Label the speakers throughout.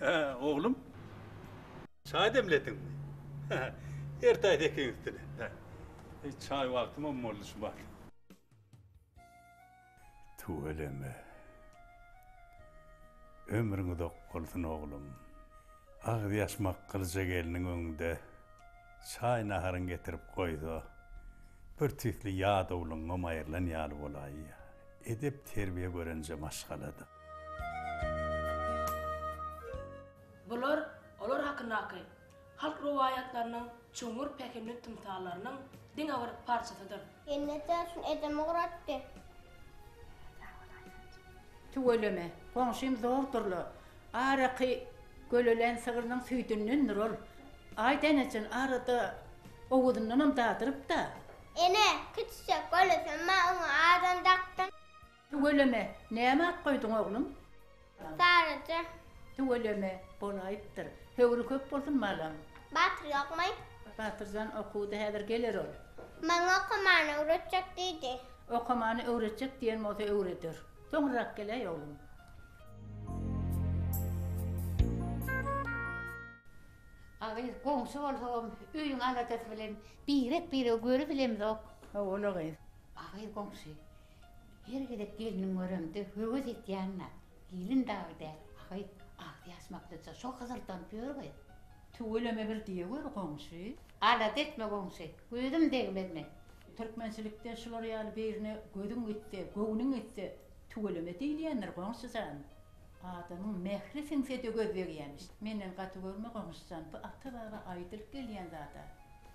Speaker 1: Hä, oglum? Çaý demlediňmi? Ertaý sekiň üstüne. Hä. E, çaý wagtymam boldy şu bar. Tüweleme. Ömrüň uzak bolsun, oglum. Agzýaşmak gylyja gelniň öňünde. Çaý-naharyňy getirip goýsa, birtüýsli ýadawlygyňam aýrylan ýaly bolaýýar. Edep-terbiýe görünje maşgaladyr.
Speaker 2: Bular olar hakyndaky halk rowaýatlarynyň çuňňur pähimli tymsallarynyň diňe bir parçasydyr. Ýene täsin
Speaker 3: edem ugratdy.
Speaker 4: Tüweleme, goňşym zordurla. Araky gölelen sygrynyň süýdündendir ol. Aý Denejan arada owuzyndanam dadyryp-da. Ene,
Speaker 3: kiçijek gölesem bar, oňa adam dakdyň. Tüweleme,
Speaker 4: näme at goýduň, oglum? Saryja.
Speaker 3: Tüweleme,
Speaker 4: bolaýypdyr. Höwri köp bolsun, balam. Batyr ýokmy?
Speaker 3: Batyr jan okuwda,
Speaker 4: häzir geler ol. Maňa okamany
Speaker 3: öwretjek diýdi. Okamany
Speaker 4: öwretjek diýen bolsa öwreder. Soňrarak geläý, oglum.
Speaker 5: Agyz, goňşy bolsagam, öýüň aladasy bilen birek-biregi görüp bilemizok. Hawa, ola gyz.
Speaker 4: Agyz goňşy,
Speaker 5: Her gezek gelniňi göremde höwes etýän-ä, gelin dagy däl, ahy, agzy ýaşmaklyja şo hyzyldanyp ýör gyz. Tüweleme
Speaker 4: bir diýe gör, goňşy. Alada etme,
Speaker 5: goňşy, gözüm degmez men. Türkmençilikde
Speaker 4: şular ýaly birine gözüň gitse, göwnüň gitse, tüweleme diýilýändir, goňşy jan. Adamyň mähri siňsede göz degýämiş. Menden gaty görme goňşujan, bu ata baba aýdylyp gelýän zada.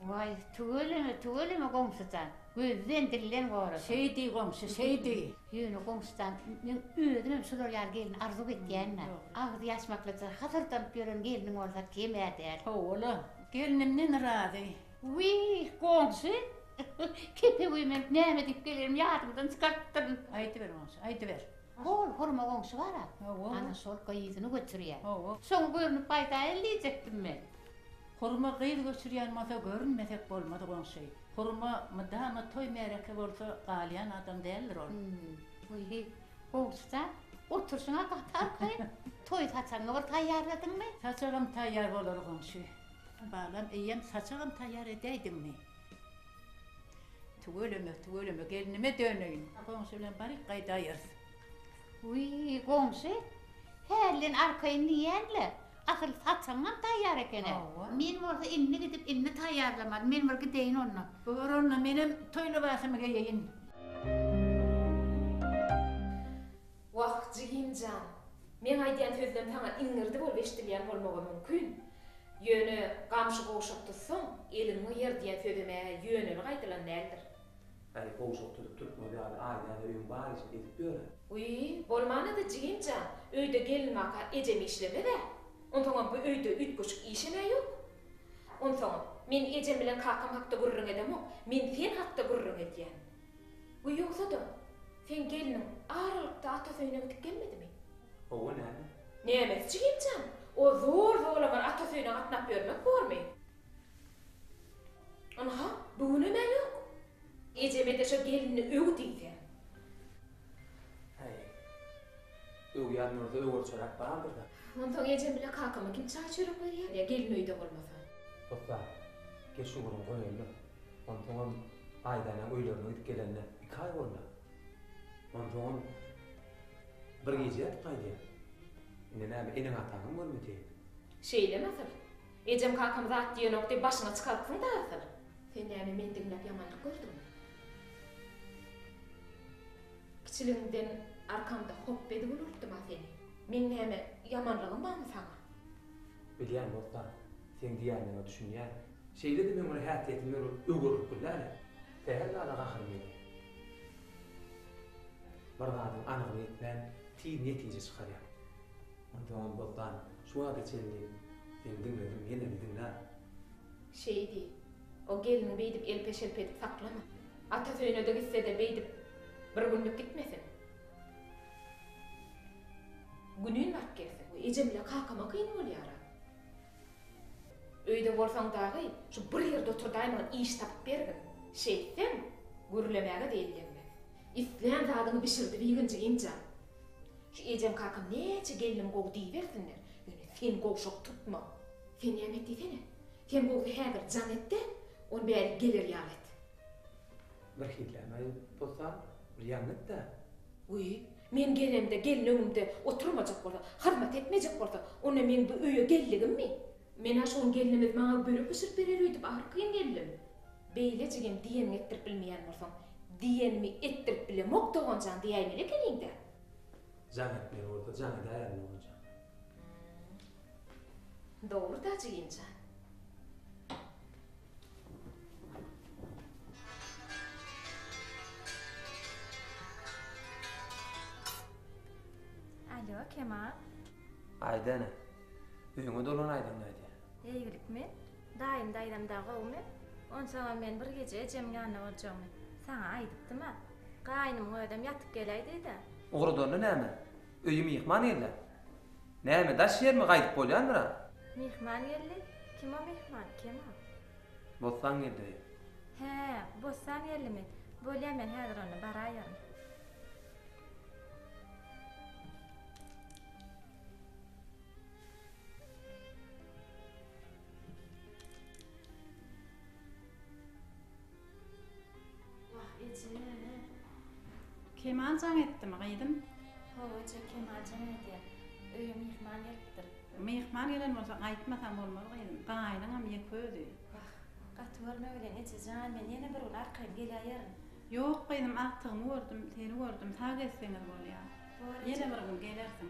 Speaker 4: Waý,
Speaker 5: tüweleme, tüweleme goňşujan, gözden, dilden gora. Şeý diý goňşy,
Speaker 4: şeý diý. Ýöne goňşujan,
Speaker 5: men özümem şular ýaly gelni arzuw etýän-ä. Agzy ýaşmaklyja hasyrdanyp ýören gelniň bolsa kem-ä däl. Hawa-la,
Speaker 4: gelnimden razy. Wiý,
Speaker 5: goňşy, kepe wiý, men näme diýip gelerimi ýadymdan çykarypdyryn. Aýdyber goňşy,
Speaker 4: aýdyber. Hol hurma goňşy
Speaker 5: bar-a. Hawa. Ana şol
Speaker 4: gyzyny
Speaker 5: göçürýär. Hawa. Soň görnüp
Speaker 4: gaýdaýaly
Speaker 5: diýjekdim men. Hurma
Speaker 4: gyz göçürýän bolsa görünmesek bolmaz goňşy. Hurma mydama toý-märeke bolsa galýan adam däldir ol. Wiý,
Speaker 5: goňşy jan, oturşyň-a gaty arkaýyn. Toý saçagyňy bir taýýarladyňmy? Saçagam taýýar
Speaker 4: bolar goňşy. Balam, eýýäm saçagam taýýar edäýdiňmi? Tüweleme, tüweleme, gelnime döneýin. Goňşy bilen baryp gaýdaýarys.
Speaker 5: Wiý, goňşy, hälden arkaýyn diýýän-le, asyl saçagyňam taýýar eken-ä. Hawa. Men bolsa indi gidip, indi taýýarlamaly. Men bir gideýin onda. Bor onda, menem
Speaker 4: toý lybasymy geýeýin.
Speaker 2: Wah, jigim jan! Meň aýdýan sözlerim saňa iňňirdi bolup eşidilýän bolmagy mümkin. Ýöne gamşy gowşak tutsaň, eliň ýer diýen sözem-ä ýöneli gaýdylan däldir. Gaýy gowşak
Speaker 6: tutup türkmen ýaly aýdýan-a öýüň bar işini edip ýör-ä. Wiý,
Speaker 2: bolman-a-da jigim jan, öýde gelin-maka ejem işlemez-ä. Onsoňam bu öýde üýtgeşik işem-ä ýok. Onsoňam, men ejem bilen kakam hakda gürrüň edemok, men sen hakda gürrüň edýän. We ýogsa-da, seň gelniň aralykda atasy öýüne gidip gelmedimi? Hawa, näme?
Speaker 6: Nämesi jigim
Speaker 2: jan? Ol zor-zolaňar atasy öýüne gatnap ýörmek bormy? Ynha, bu günem-ä ýok. Ejeme-de şo gelini öw diýseň.
Speaker 6: Häý, öwýän bolsa öwerçöräp bardyr-da. Onsoň ejem bile
Speaker 2: kakama kim çaý-çörek berýär, gelin öýde bolmasa? Hopba,
Speaker 6: geç ugruň goýaýmaly. Onsoňam Aýdana öýlerine gidip gelenine iki aý bolýar. Onsoňam bir gije ýatyp gaýdýar. Indi näme, eneň-ataňam görmeseýin. Şeýlemi asyl?
Speaker 2: Ejem-kakam zat diýenok diýip başyňy çykarypsyň-da asyl? Sen näme meni diňläp ýamanlyk gördüňmi? Kiçiligimden arkamda hop edip ulaltdym-a seni. Meň näme ýamanlygym barmy saňa? Bilýän,
Speaker 6: bossan. Seň diýýänleriňe düşünýän. Şeýle-de men ony häsiýetim ýoly öwürlip bilýän-ä. Sähel zada gaharyň gelýär. Bir zadyň anygyny etmän, tiz netije çykarýaň. Onsoňam Bosdan, şu wagta çenli seni diňledim, ýene-de diňlär. Şeý
Speaker 2: diý. O gelniňi beýdip elpe-şelpe edip saklama. Atasy öýüne-de gitse-de beýdip bir günlük gitmesin. Günün baryp gelsin. Ejem bilen kakama kyn bolýar-a. Öýde bolsaň dagy, şu bir ýerde oturdaýmagy iş tapyp bergin. Şeýtseň, gürlemäge-de ellenmez. Islän zadyňy bişirdibigin, jigimjan. Şu ejem-kakam näçe gelnim gowy diýibersinler, ýöne sen gowşak tutma. Sen näme et diýsene. Sen gowsy häzir jaň et-de, ony bärik geler ýaly et.
Speaker 6: Birhiliäni aýyp bolsa, bir ýaňy et-dä. Wiý,
Speaker 2: Men gelemde gelin öňümde oturmajak bolsa, hyzmat etmejek bolsa, onda meň bu öýe geldigimmi? Men-ä şoň gelnimiz maňa börek bişirip berer öýdüp ahyry kyn geldim. Beýle jigim diýeniňi etdirip bilmeýän bolsaň, diýenimi etdirip bilemok doganjan diýäýmeli ekeniň-dä. Jaň
Speaker 6: etmeli bolsa jaň edäýerin doganjan. Hum.
Speaker 2: Dogry-da jigimjan.
Speaker 7: Alo, Kemal. Aýda
Speaker 6: ene. Öýüňe dolan aýdaň nädýä? Eýgilikmi?
Speaker 7: Daýym daýzam dagy gowumy? Onsoňam men bir gije ejemiň ýanynda boljagymy saňa aýdypdym-a. Gaýnymyň özem ýatyp geläý diýdi. Ugradanda näme?
Speaker 6: Öýe myhman gelýä. Näme, daş ýermi, gaýdyp bolýandyr-a? Myhman geldi.
Speaker 7: Kim o myhman, kim o? Bossan
Speaker 6: geldi öýe. Hä,
Speaker 7: Bossan geldimi? Bolýa, men häzir onda baraýaryn.
Speaker 4: Wah eje. Kemal jaň etdimi gyzym? Hawa eje
Speaker 7: Kemal jaň edýär. Öýe myhman gelipdir. Myhman gelen
Speaker 4: bolsa gaýtmasaň bolmaz gyzym. Gaýynyňam ýeke özi. Wah. Gaty
Speaker 7: görme bilen eje jan men ýene bir gün arkaýyn geläýerin. Ýok gyzym
Speaker 4: agtygymy gördüm seni gördüm sag gezseňiz bolýar. Bor eje. Ýene bir gün gelersiň.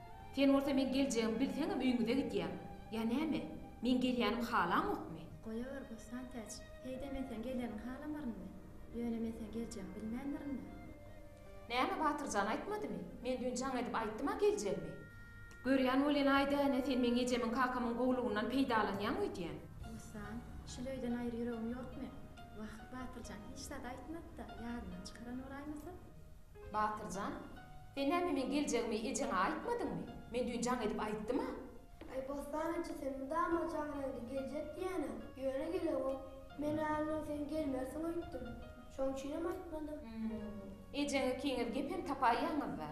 Speaker 2: Sen bolsa meň geljegimi bilseňem öýüňize gidýäň. Ýa näme? Meň gelýänimi halaňokmy? Goýaweri Gussantäç.
Speaker 7: Heý-de men seň geleniňi halamarynmy? Ýöne men seň geljegiňi bilmändirinmi? Näme,
Speaker 2: Batyr jan aýtmadymy? Men düýn jaň edip aýtdym-a geljegimi. Görýän bolýan-aý-da, ene, sen meň ejemiň kakamyň gowulygyndan peýdalanýaň öýdýän. Gussan,
Speaker 7: şul öýden aýry ýüregiň ýokmy? Wah, Batyr jan hiç zat aýtmady-da, ýadyndan çykaran bolaýmasa? Batyrjan,
Speaker 2: sen näme meň geljegimi ejeňe aýtmadyňmy? Men düýn jaň edip aýtdym-a. Aý, Bossan
Speaker 3: eje, sen mydama jaň reňki geljek diýýäň-ä, ýöne gelewok. Men-ä ondan sen gelmersiň öýtdüm. Şoň üçinem aýtmadym. Hüm, ejeň
Speaker 2: ikiňiz gep hem tapaýýaňyz-da.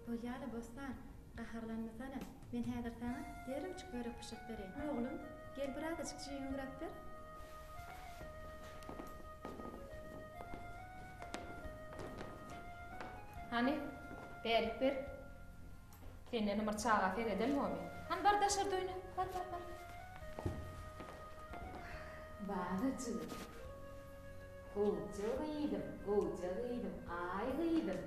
Speaker 7: Bolýa-la, Bossan, gaharlanmasana. Men häzir saňa derrewçik börek bişirip bereýin. Oglum, gel birazajyk jigiňi gürap ber.
Speaker 2: Hany, bärik ber. Senden ymyr çaga sereden boly. Hany bar daşarda oýna. Bar, bar, bar. Bana jigim. Gowja gyzym, gowja gyzym, aý gyzym.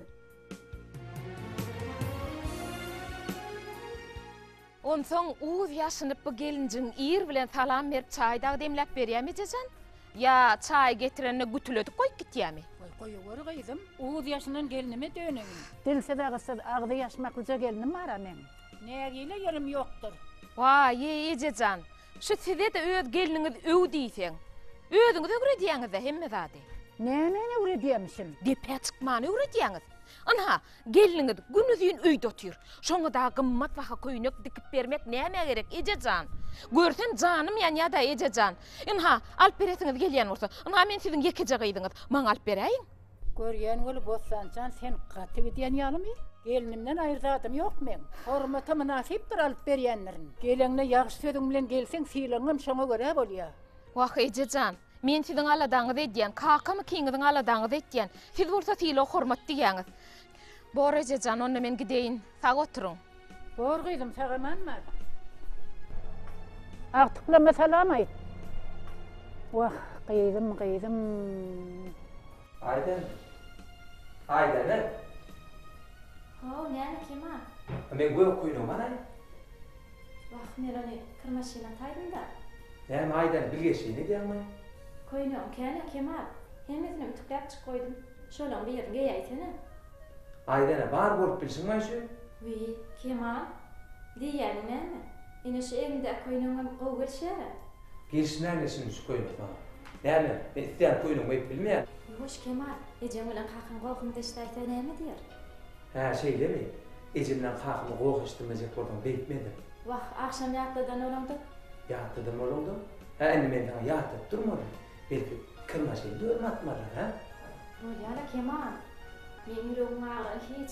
Speaker 2: Onsoň uz ýaşynyp bu gelinjigiň ir bilen salam berip çaý dagy demläp berýämi ejejan? Ýa çaýy getirenine gütüledip goýup gitýämi? Goý goýaweri gyzym,
Speaker 4: uz ýaşynan gelnime döneýin. Dilsiz agyzsyz agzy ýaşmaklyja gelnim bar-a meň. Nägile ýerim ýokdur. Waý-eý
Speaker 2: ejejan, şu size-de öz gelniňiz öw diýseň. Özüňiz öwredýäňiz-dä hemme zady. Nämeni
Speaker 4: öwredýämişim? Depä çykmany
Speaker 2: öwredýäňiz. Ynha, Gelniňiz günuzyn öýde otyr. Şoňa-da gymmat baha köýnek dikip bermek nämä gerek, eje jan? Görsem, janym ýanýa-da, eje jan. Ynha, alyp beresiňiz gelýän bolsa. Ynha, men siziň ýekeje gyzyňyz. Maňa alyp beräýiň. Görýän bolup,
Speaker 4: Bossan jan, sen gaty gidýän ýalymy? Gelnimden aýry zadym ýok meň. Hormata mynasypdyr alyp berýänlerin. Geleňde ýagşy sözüň bilen gelseň, sylagyňam şoňa görä bolýar. Wah, eje
Speaker 2: jan! Men siziň aladaňyzy edýän, kakam ikiňiziň aladaňyzy etýän. Siz bolsa sylag-hormat diýýäňiz. Bor, eje jan, onda men gideýin. Sag oturyň. Bor, gyzym,
Speaker 4: sag-aman bar. Agtyklama salam aýt. Wah, gyzym, gyzym. Aýdan.
Speaker 7: Aýdany. Ho, näme, kim-a? Men gök
Speaker 6: köýnegman-aý.
Speaker 7: Wah, men ony kir maşyna ataýdym-da. Näme aýdan,
Speaker 6: bilgeşleýin edýäňmi? Köýnegim
Speaker 7: kän-ä, Kemal. Hemmesini ütükläp çyk goýdum. Şolaň birini geýäýsene. Aýdan-a,
Speaker 6: bar bolup bilşiň maý şu. Wiý,
Speaker 7: Kemal, diýýäniň näme? Ine şu egiňdäki köýnegiňem gowy gelişýär-ä. Gelişmän-le
Speaker 6: şunuň şu köýnek maňa. Näme, men isleýän köýnegimi geýip bilmeýämi? Ýuwaş, Kemal,
Speaker 7: ejeň bilen kakyň gohumdaşdaýsa näme diýer? Hä, şeýlemi?
Speaker 6: Ejemden kakamy goh eşitdirmejek bolduň, beýtmedim. Wah, agşam
Speaker 7: ýatladan bolaňdyk. Ýatladan
Speaker 6: bolaňdyk? Hä, indi men saňa ýatladyp durmalym. Belki, kirmaşyny dörüme atmalylar, hä? Bolýa-la,
Speaker 7: Kemal. Meň ýüregim agyrany hiç.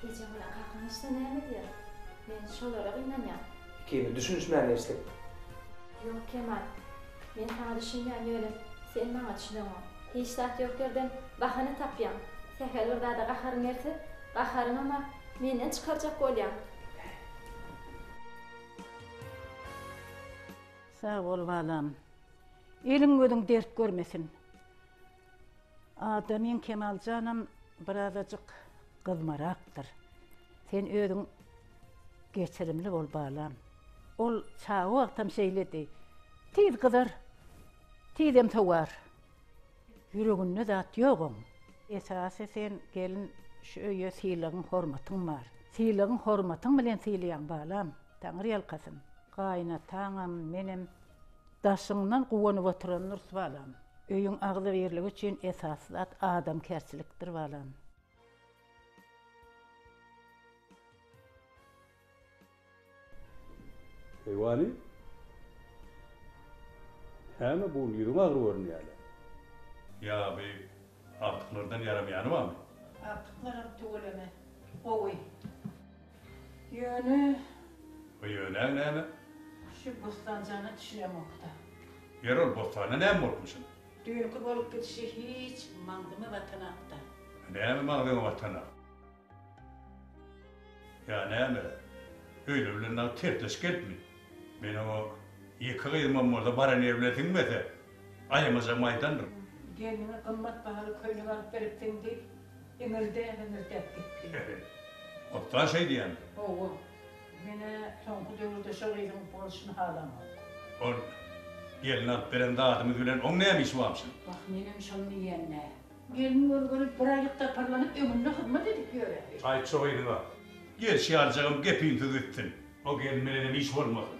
Speaker 7: Ejeň bilen kakaň eşitse näme edýär? Men şolara gynanýan. Ikimiz düşünişmän
Speaker 6: geçdik. Ýok,
Speaker 7: Kemal. Men saňa düşünýän ýöne sen maňa düşüneňok. Hiç zat ýok ýerden bahana tapýaň. Sähel bir zada gaharyň gelse, gaharyňama menden çykarjak bolýaň.
Speaker 4: Sag bol balam. Eliň gözüň dert görmesin. Ada meň Kemaljanam birazajyk gyzmarakdyr. Sen özüň geçirimli bol balam. Ol çaga wagtam şeýledi. Tiz gyzar, tizem sowar. Ýüreginde zat ýok oň. Esasy sen gelin şu öýe sylagyň hormatyň bar. Sylagyň hormatyň bilen sylaýaň balam. Taňyrýalkasyn. Gaýynataňam, menem Daşyňdan guwanyp oturan Nurs balam. Öýüň agzybirligi üçin esasy zat adamkärçilikdir balam.
Speaker 1: Heý wani. Häme bu gün ýüzüň agyr görünýäle. Ýaby agtyklardan ýaramaýany bamy. Agtyklaram
Speaker 4: tüweleme gowy. Ýöne. O ýöne
Speaker 1: näme? Şu
Speaker 4: Bostanjana düşünemokda. Ýeri ol
Speaker 1: Bostanda näme bolupmyşyn? Düýnki bolup
Speaker 4: gidişi hiç maňzyma batanakda. A näme maňzyňa
Speaker 1: batanak? Ýa näme? Öýle bilen dagy tersleşip gelipmi? Meniň o ýeke gyzymam bolsa baran ýerimi bilen siňmese, Aýamaja maýdandyr. Gelniňe gymmat
Speaker 4: bahaly köýnek alyp beripsiň, diýip, iňirdä-hiňirdäp gitdi. Otda
Speaker 1: şeýdýändir. Hawa.
Speaker 4: Men-ä soňky döwürde şo gyzyň bolşuny halamok. Ol
Speaker 1: gelne alyp beren zadymyz bilen oň näme işi bamşyn? Wah, menem şony
Speaker 4: diýen-dä. Gelin görgeli bir aýlyk taparlanyp, öňünde hyzmat edip ýöräýdi. Aýt şo gyzyňa.
Speaker 1: Gelşi aljagym gepinsiz gitsin. O gelin bilenem iş bolmasyn.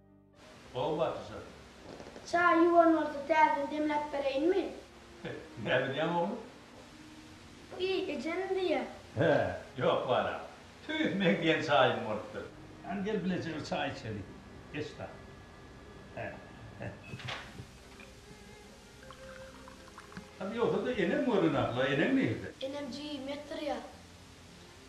Speaker 3: Gowy
Speaker 1: batyja.
Speaker 3: Çaý ýuwan bolsa täzeden demläp bereýinmi? Näbilýäň
Speaker 1: ogly?
Speaker 3: Bi ejenim diýýä. Hä, ýok
Speaker 1: balam. Tüýs meň diýen çaýym bolupdyr. Hany gel bileje bir çaý içelik. Geç da. Hä, hä. Hany ýogsa-da eneň görenok-la, eneň nirde? Enem jigimi etdirýär.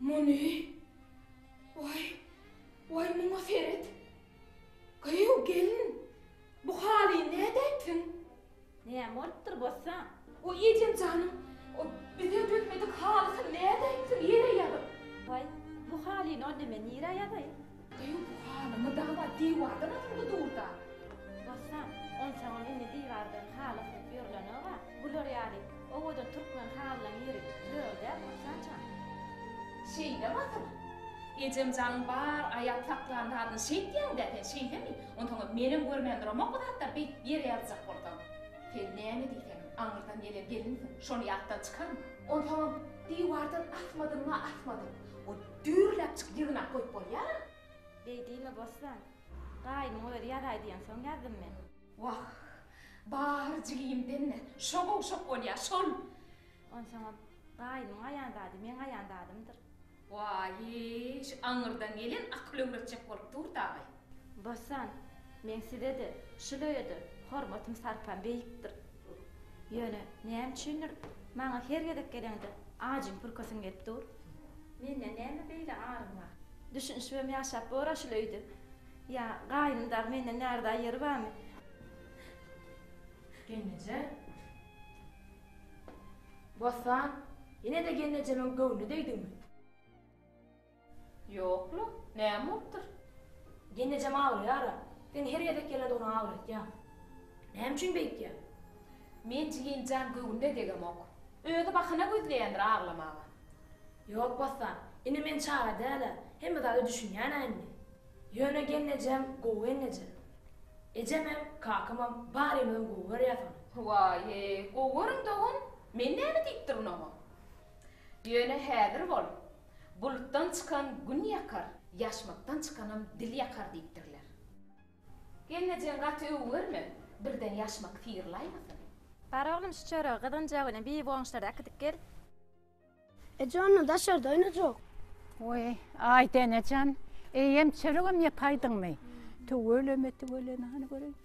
Speaker 2: Muny, waý, waý, muňa seret! Gyýw, gelin, bu halyny nädip etdiň? Näme
Speaker 7: bolupdyr, Bossa? Waý, ejem
Speaker 2: janyň, o bize dözmedik halysyny nädip etdiň, ýere ýazyp? Waý, bu
Speaker 7: halyny onda men nirä ýazaýyn? Eý,
Speaker 2: bu halyňy dagy-da diwardan asylgy
Speaker 7: dur-da! Bossan, onsoňam indi diwardan haly asylyp ýörlenok-a. Bular ýaly owadan türkmen halylaryň ýeri zör däl, Bossan jan.
Speaker 2: Şeýdem asyl. Ejem janyň bar, aýap saklan zadyny şeýtýäň-dä sen, şeýdemi? Onsoňam menem görmän duramok bu zatlary beýt ýere ýazjak bolsaň. Sen näme diýseňem, aňyrdan gelen gelinsiň, şony ýatdan çykarma. Onsoňam diwardan asmadygyňa asmadyk. Ol. Düýrläpjik ýygnap goýup bolýar. Beý diýme
Speaker 7: Bossan. Gaýymyň özi ýazaý diýensoň ýazdym men. Wah,
Speaker 2: bar jigim demme, şo gowşak bolýar, şol. Onsoňam,
Speaker 7: gaýymyň aýan zady meň aýan zadymdyr. Waýyş,
Speaker 2: aňyrdan gelen akyl öwretjek bolup dur dagy. Bossan,
Speaker 7: meň size-de, şu löýe-de hormatym-sarpam beýikdir. Ýöne näme üçindir, maňa her gezek geleňde ajyň pürkäsiň gelip dur. Mende näme beýle aryň bar? Düşünişibem ýaşap bor-a şul öýde. Ýa gaýnym dagy menden närza ýeri barmy?
Speaker 2: Gelneje? Bossan, ýene-de gelnejemiň göwnüne degdiňmi? Ýok-la, näme bolupdyr? Genejem
Speaker 8: aglaýar-a. Sen her gezek gelendigini aglatýaň. Näme üçin beýtýäň? Men
Speaker 2: Jigim jan göwnüne degemok. Özi bahana gözleýändir aglamaga. Ýok,
Speaker 8: Bossan. Ine men çaga däl-ä. Hemme zada düşünýän-ä indi. Ýöne gelnejem gowy gelneje. Ejemem, kakamam barymyzam gowy görýäs ony. Waý-e,
Speaker 2: gowy görüň dogan. Men näme diýipdirin oňa? Ýöne häzir bol. Bulutdan çykan gün ýakar, ýaşmakdan çykanam dil ýakar diýipdirler. Gelnejeň gaty öwürme, birden ýaşmak syrylaýmasyn. Bar oglum
Speaker 7: şu çöregi gyzgynja güni bir boňşlara äkidip gel.
Speaker 3: Eje onda daşarda oýnajak. Weý,
Speaker 4: Aýdenejan, eýýäm çöregem ýapaýdyňmy? Tüweleme, tüweleme, hany göreýin.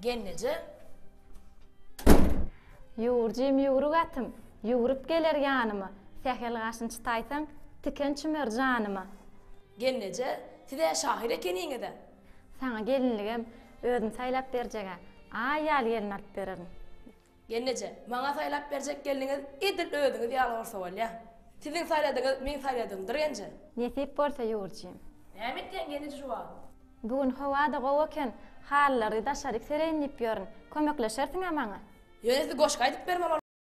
Speaker 8: Gelneje.
Speaker 7: Ýuwurjym ýüwrük atym, ýüwrüp geler ýanyma, sähel gaşyn çytaýsaň, tiken çümer janyma. Gelneje,
Speaker 8: siz-ä şahyr ekeniňiz-ä? Saňa gelinligem
Speaker 7: özüm saýlap berjeg-ä, aý ýaly gelin alyp bererin. Gelneje,
Speaker 8: maňa saýlap berjek gelniňiz edil özüňiz ýaly bolsa bolýa. Siziň saýladyňyz meň saýladygymdyr genje. Nesip bolsa
Speaker 7: Ýurjym. Näme etýäň
Speaker 8: gelneje şu wagt? Bu gün howa-da
Speaker 7: gowy eken, halylary daşaryk
Speaker 8: sereýin diýip
Speaker 7: ýörün. Kömekleşersiň-ä maňa?
Speaker 8: Ýöne
Speaker 7: siz goşgy
Speaker 8: aýdyp
Speaker 7: bermeli bolarsyňyz.